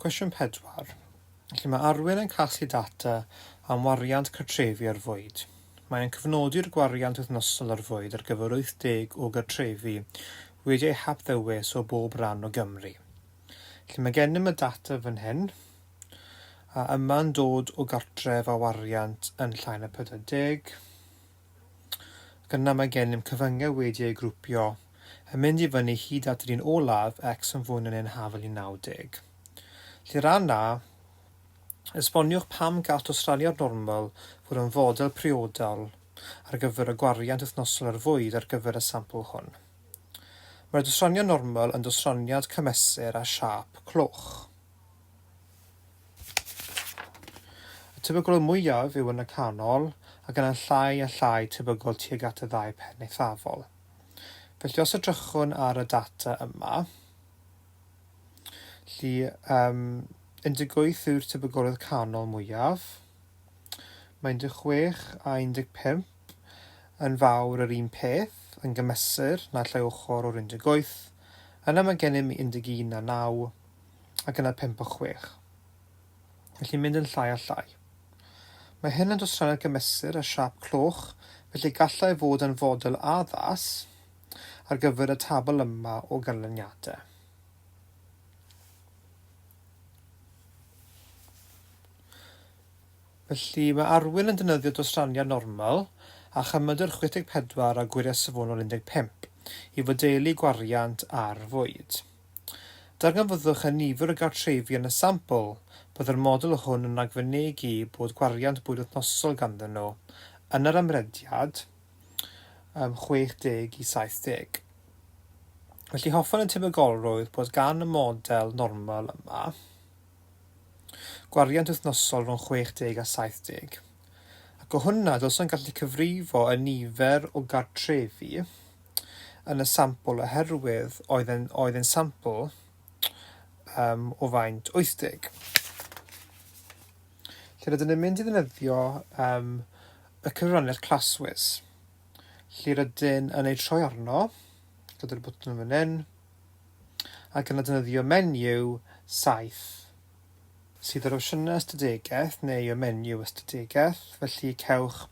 Cwestiwn pedwar. Lle mae Arwyn yn casglu data am wariant cartrefi ar fwyd. Mae e'n cyfnodi'r gwariant wythnosol ar fwyd ar gyfer 80 o gartrefi wedi eu hapddewis o bob ran o Gymru. Lle mae gennym y data fan hyn, a yma'n dod o gartref â wariant yn llai na 40, ac yna mae gennym cyfyngau wedi eu grwpio yn mynd i fyny hyd at yr un olaf, X yn fwy na neu'n hafal i 90. Lle ran A, esboniwch pam gall dosraniad normal fod yn fodel priodol ar gyfer y gwariant wythnosol ar fwyd ar gyfer y sampl hwn. Mae'r dosraniad normal yn dosraniad cymesur â siâp cloch. Y tebygol mwyaf yw yn y canol, ac yna'n llai a llai tebygol tuag at y ddau phen eithafol. Felly os edrychwn ar y data yma, lle um, 18 yw'r tebygolrwydd canol mwyaf, mae 16 a 15 yn fawr yr un peth, yn gymesur na llai ochr o'r 18, yna mae gennym 11 a 9, ac yna pump o chwech. Felly mynd yn llai a llai. Mae hyn yn dosrannu'r gymesur a siâp cloch, felly gallai fod yn fodel addas ar gyfer y tabl yma o ganlyniadau. Felly mae Arwyn yn defnyddio dosraniad normal a chymydr 64 a gwyriau safonol 15 i fodelu gwariant ar fwyd. Darganfyddwch a nifer o gartrefi yn y sampl. Byddai'r model hwn yn ragfynegi bod gwariant bwyd wythnosol ganddyn nhw yn yr amrediad ym 60 i 70. Felly hoffwn y tebygolrwydd bod gan y model normal yma, Gwariant wythnosol rhwng 60 a 70. Ac o hwnna, dylswn gallu cyfrifo y nifer o gartrefi yn y sampl oherwydd oedd yn, oedd yn sampl um, o faint 80. Lle rydyn ni'n mynd i ddefnyddio um, y cyfraniad claswys. Lle rydyn yn ei troi arno, gyda'r bwtwn yn fan hyn, ac yna defnyddio menyw saith sydd yr opsiynau ystadegaeth neu y menyw ystadegaeth, felly cewch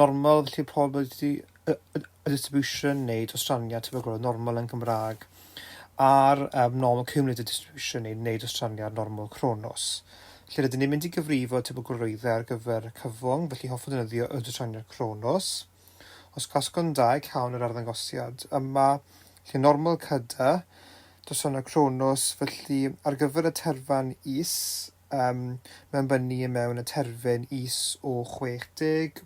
normal, felly pob wedi y distribution neu dostraniad tebygol o normal yn Gymraeg, a'r um, normal cumulative distribution neu, neu dostraniad normal cronos. Felly rydyn ni'n mynd i gyfrifo tebygolrwyddau ar gyfer cyfwng, felly hoffwn ddefnyddio y dostraniad cronos. Os gwasgwn dau cawn yr arddangosiad. Yma, lle normal cyda, doson y cronos, felly ar gyfer y terfan is, um, mae'n bynnu mewn y terfyn is o 60,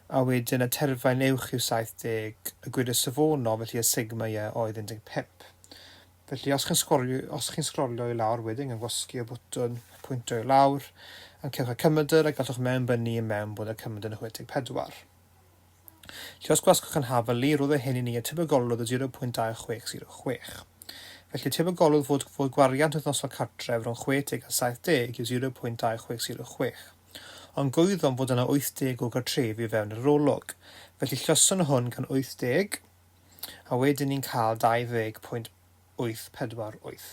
a wedyn y terfyn uwch yw 70, y gwir y safonol, felly y sigma ie oedd 15. Felly, os chi'n sgolio, os chi'n sgrolio i lawr wedyn yn gwasgu y bwtwn pwyntio i lawr, yn cewch y cymydr a gallwch mewnbynnu i mewn bod y cymydr yn 64. Felly, os gwasgwch yn hafal i, roedd y hyn i ni y tebygolwdd o 0.2606. Felly, tebygolwdd fod, fod gwariant wythnosol cartref rhwng 60 a 70 yw 0.2606. Ond gwyddom fod yna 80 o gartrefi o fewn yr arolwg. Felly, lluosion hwn gan 80, a wedyn ni'n cael 20.848.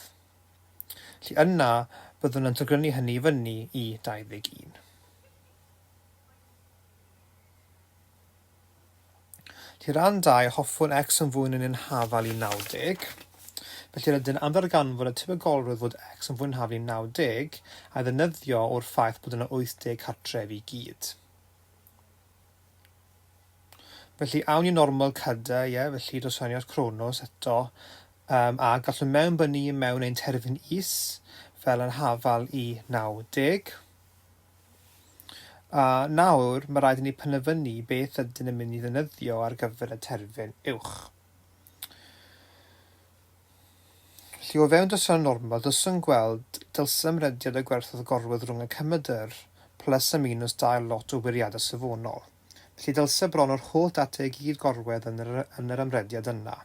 Felly yna byddwn yn togrynu hynny i fyny i 21. Felly ran 2, hoffwn x yn fwy yn yn hafal i 90. Felly rydyn am ddarganfod y tebygolrwydd fod x yn fwy yn hafal i 90 a'i ddefnyddio o'r ffaith bod yna 80 cartref i gyd. Felly, awn i normal cade, ie, felly dos fewn i at Cronos eto, um, a gallwn mewnbynnu i mewn ein terfyn is, fel yn hafal i 90. A nawr, mae rhaid i ni penderfynu beth ydyn yn mynd i ddynyddio ar gyfer y terfyn uwch. Felly, o fewn dylsem normal, dylswn gweld dylsem rediad y gwerthoedd gorwedd rhwng y cymydr, plus a minus dail lot o wiriadau safonol. Felly, dylse bron yr holl data i gyd gorwedd yn yr yn yr ymrediad yna.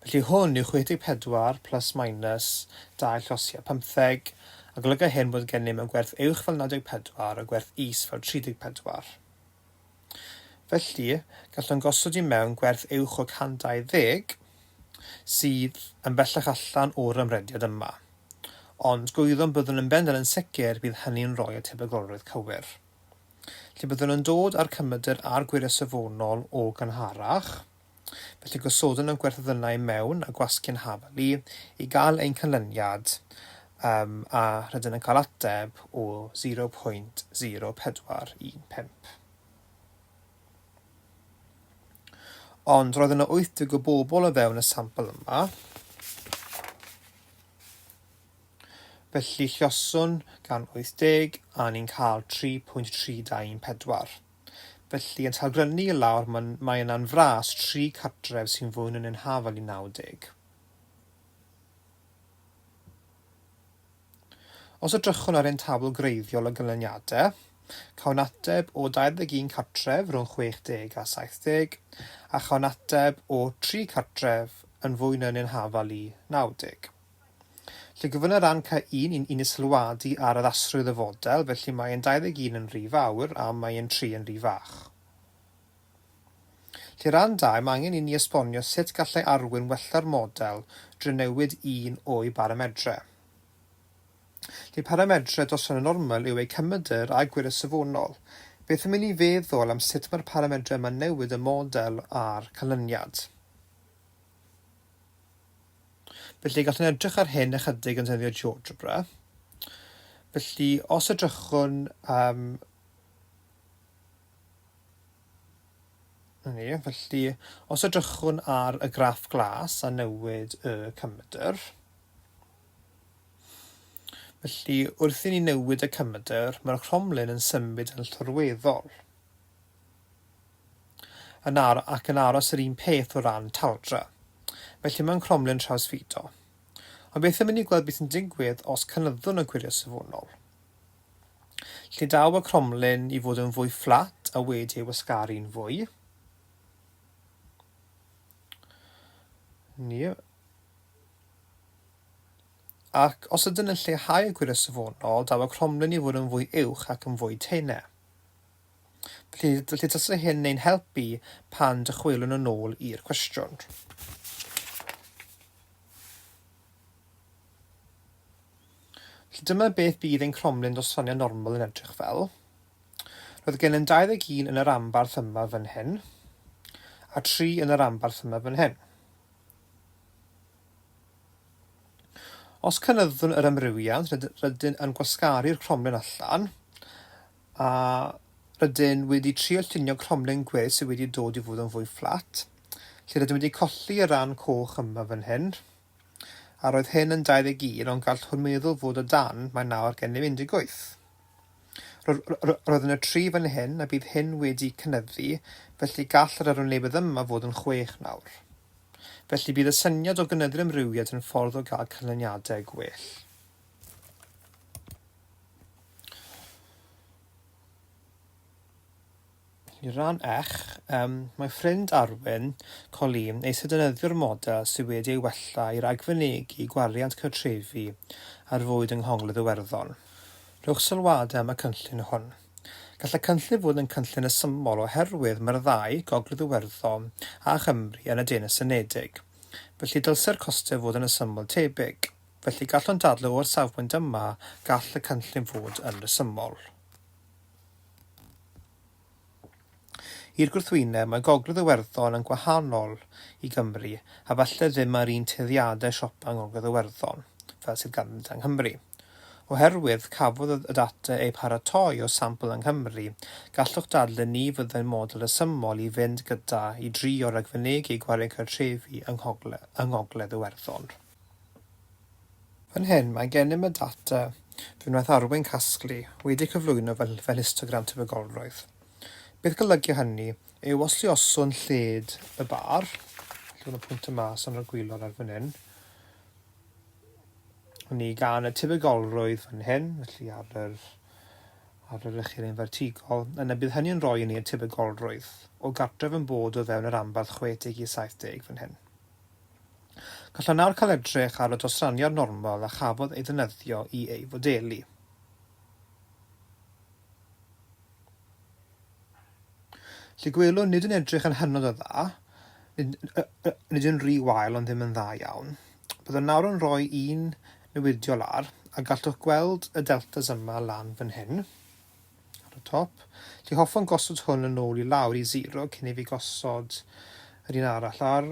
Felly, hwn yw 64 plus minus dail llosiau pymtheg, a golyga hyn bod gennym y gwerth uwch fel 94 a gwerth is fel 34. Felly, gallwn gosod i mewn gwerth uwch o 120, sydd yn bellach allan o'r ymrediad yma. Ond gwyddom byddwn yn bendant yn sicr bydd hynny'n rhoi y tebygrolrwydd cywir. Felly byddwn yn dod â'r cymydr a'r gwyre safonol o gynharach, Felly gosodwn y gwerthodynnau mewn a gwasgwn hafal i i gael ein canlyniad um, a rydyn yn cael ateb o 0.0415. Ond roedd yna 80 o bobl o fewn y sampl yma. Felly llioswn gan 80 a ni'n cael 3.3214. Felly, yn talgrynnu i lawr, mae'n, mae yna'n fras tri cartref sy'n fwy na neu'n hafal i 90. Os edrychwn ar ein tabl greiddiol o ganlyniadau, cawn ateb o 21 cartref rhwng 60 a 70, a chawn ateb o tri cartref yn fwy na neu'n hafal i 90. Lle gofynna ran ca un i'n i'n sylwadu ar addasrwydd y fodel, felly mae yn 21 yn rhy fawr a mae yn 3 yn rhy fach. Lle ran dau, mae angen inni esbonio sut gallai Arwyn wella'r model drwy newid un o'i baramedre. Lle paramedre dros ran y normal yw eu cymydr a gwirio safonol, beth am inni feddwl am sut mae'r paramedre yma'n newid y model a'r canlyniad. Felly, gallwn edrych ar hyn ychydig yn defnyddio GeoGebra. Felly, os edrychwn am... Ni, felly, os edrychwn ar y graff glas a newid y cymydr, felly wrth i ni newid y cymydr, mae'r cromlin yn symud yn llorweddol. yn ar ac yn aros yr un peth o ran taldra. Felly mae'n cromlin trawsfudo. Ond beth am i ni gweld beth sy'n digwydd os cynyddwn y gwyliau safonol? Lle daw y cromlin i fod yn fwy fflat a wedi ei wasgaru'n fwy? Ni. Ac os ydyn yn lleihau y gwyliau safonol, daw y cromlin i fod yn fwy uwch ac yn fwy teine. Bydd y testun hyn yn ein helpu pan dychwelwn yn ôl i'r cwestiwn. Felly dyma beth bydd ein cromlin dros ffraniau normal yn edrych fel. Roedd gen yn 21 yn yr ambarth yma fan hyn, a 3 yn yr ambarth yma fan hyn. Os cynyddwn yr amrywiad, rydyn yn gwasgaru'r cromlin allan, a rydyn wedi trio llunio cromlin gwe sydd wedi dod i fod yn fwy fflat, lle rydym wedi colli y rhan coch yma fan hyn, a roedd hyn yn 21 ond gall hwn meddwl fod o dan, mae nawr gennym 18. Roedd yna tri fan hyn a bydd hyn wedi cynyddu, felly gall yr arwynebedd yma fod yn chwech nawr. Felly bydd y syniad o gynyddu'r amrywiad yn ffordd o gael canlyniadau gwell. I ran eich, um, mae ffrind Arwyn, Colleen, eisiau defnyddio'r model sydd wedi ei wella i ragfynegi gwariant cartrefi ar fwyd yng Nghogledd Iwerddon. Rhowch sylwadau am y cynllun hwn. Gall y cynllun fod yn cynllun ysymol oherwydd mae'r ddau, Gogledd Iwerddon a Chymru, yn y Deyrnas Unedig. Felly dylse'r costau fod yn ysymol tebyg. Felly, gallwn dadlau o'r safbwynt yma, gall y cynllun fod yn resymol. I'r gwrthwyneb, mae Gogledd Iwerddon yn gwahanol i Gymru, a falle ddim â'r un tueddiadau siopa yng Ngogledd Iwerddon, fel sydd ganddynt yng Nghymru. Oherwydd, cafodd y data eu paratoi o sampl yng Nghymru, gallwch dadlau ni fyddai'n model resymol i fynd gyda i drio ragfynegi gwario'n cartrefi yng Ngogledd Iwerddon. Fan hyn, mae gennym y data fe wnaeth Arwyn casglu, wedi cyflwyno fel fel histogram tebygolrwydd. Beth golygu hynny yw os lluoswn lled y bar, lle mae pwynt y mas yn y gwylod ar fan hyn, ni gan y tebygolrwydd fan hyn, felly ar yr ar yr ychydig yn fertigol, yna bydd hynny'n rhoi i ni y tebygolrwydd o gartref yn bod o fewn yr anbarth 60 i 70 fan hyn. Gallwn nawr cael edrych ar y dosraniad normal a chafodd ei ddefnyddio i ei fodelu. Lle gwelwn nid yn edrych yn hynod o dda, nid, nid yn rhy wael ond ddim yn dda iawn. Byddwn nawr yn rhoi un newidiol ar, a gallwch gweld y deltas yma lan fan hyn. ar y top. Felly hoffwn gosod hwn yn ôl i lawr i 0 cyn i fi gosod yr un arall ar.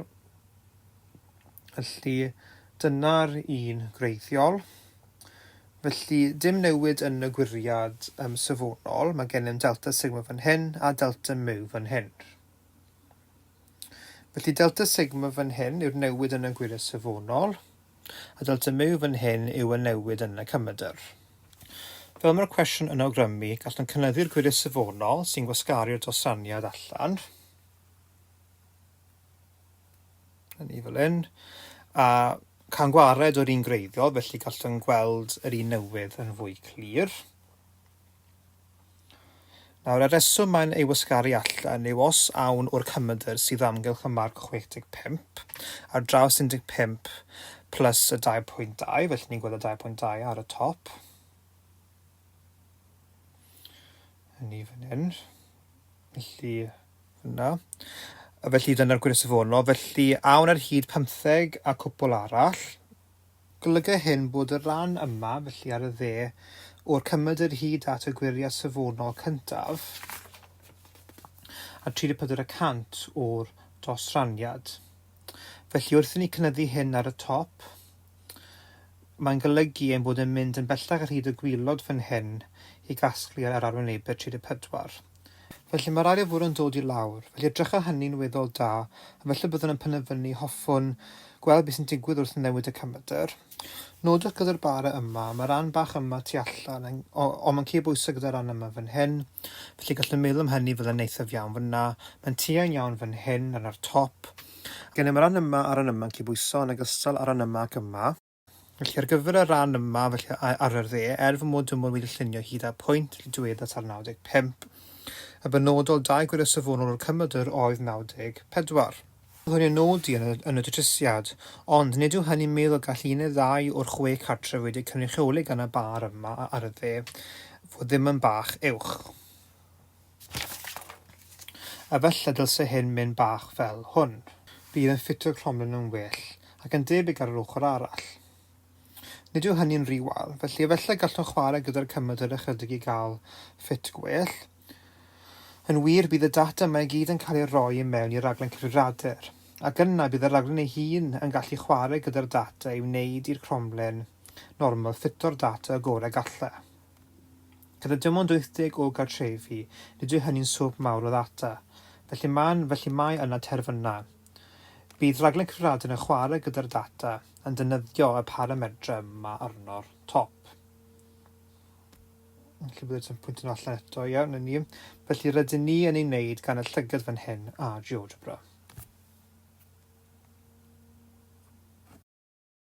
Felly dyna'r un gwreiddiol. Felly dim newid yn y gwiriad um, safonol, mae gennym delta sigma fan hyn a delta mu fan hyn. Felly delta sigma fan hyn yw'r newid yn y gwiriad safonol, A dylter myw fan hyn yw y newid yn y cymedr. Fel mae'r cwestiwn yn awgrymu, gallwn cynyddu'r gwyliau safonol sy'n gwasgaru'r dosraniad allan, hynny fel hyn, a cael gwared o'r un gwreiddiol, felly gallwn gweld yr un newydd yn fwy clir. Nawr, y rheswm mae'n ei wasgaru allan yw os awn o'r cymedr sydd amgylch y marc 65 ar draws 15 plus y 2.2, felly ni'n gweld y 2.2 ar y top, hynny fan hyn, felly yna. Felly dyna'r gwir safonol, felly awn ar hyd pymtheg a cwpl arall, Golyga hyn bod y rhan yma, felly ar y dde, o'r cymedr hyd at y gwyriad safonol cyntaf a 34 y cant o'r dosraniad. Felly wrth i ni cynyddu hyn ar y top, mae'n golygu ein bod yn mynd yn bellach ar hyd y gwilod fan hyn i gasglu ar yr arwynebedd 34. Felly, mae'r arian fwrw yn dod i lawr. Felly, edrycha hynny'n weddol da, a felly byddwn yn penderfynu, hoffwn, gweld beth sy'n digwydd wrth newid y camedr. Nodwch gyda'r bara yma, mae ran bach yma tu allan, ond mae'n cyd bwysau gyda'r ran yma fan hyn. Felly, gallwn meddwl am hynny fel yn eithaf iawn fyna. Mae'n tuain iawn fan hyn, yna'r top. Gennym y ran yma a'r ran yma'n cyd bwysau yn ogystal â'r ran yma ac yma. Felly, ar gyfer y rhan yma, felly ar yr dde, er fy mod yn mod wedi llunio hyd at pwynt y diweddar tan 95, y benodol dau gwirio safonol o'r cymydr oedd 94. Byddwn i'n nodi yn y, yn y datrysiad, ond nid yw hynny'n meddwl gall un neu ddau o'r chwe cartref wedi'u cynrychioli gan y bar yma ar y dde fod ddim yn bach uwch. Efallai dylse hyn mynd bach fel hwn. Bydd yn ffitio'r cromlin yn well ac yn debyg ar yr ochr arall. Nid yw hynny'n rhy wael, felly efallai gallwn chwarae gyda'r cymaint yr ychydig i gael ffit gwell. Yn wir, bydd y data yma i gyd yn cael ei roi i mewn i raglen cyfrifiadur, ac yna bydd y raglen ei hun yn gallu chwarae gyda'r data i wneud i'r cromlin normal ffito'r data y gorau galle. Gyda dim ond 80 o gartrefi, nid yw hynny'n swm mawr o ddata. Felly mae'n, felly mae yna terfynau. Bydd rhaglen Cyfrifiadur yn chwarae gyda'r data, yn defnyddio y paramedrau yma arno'r top. Felly bydd yn pwyntio nhw allan eto, iawn, yn ni. Felly rydyn ni yn ei wneud gan y llygad fan hyn a GeoGebra.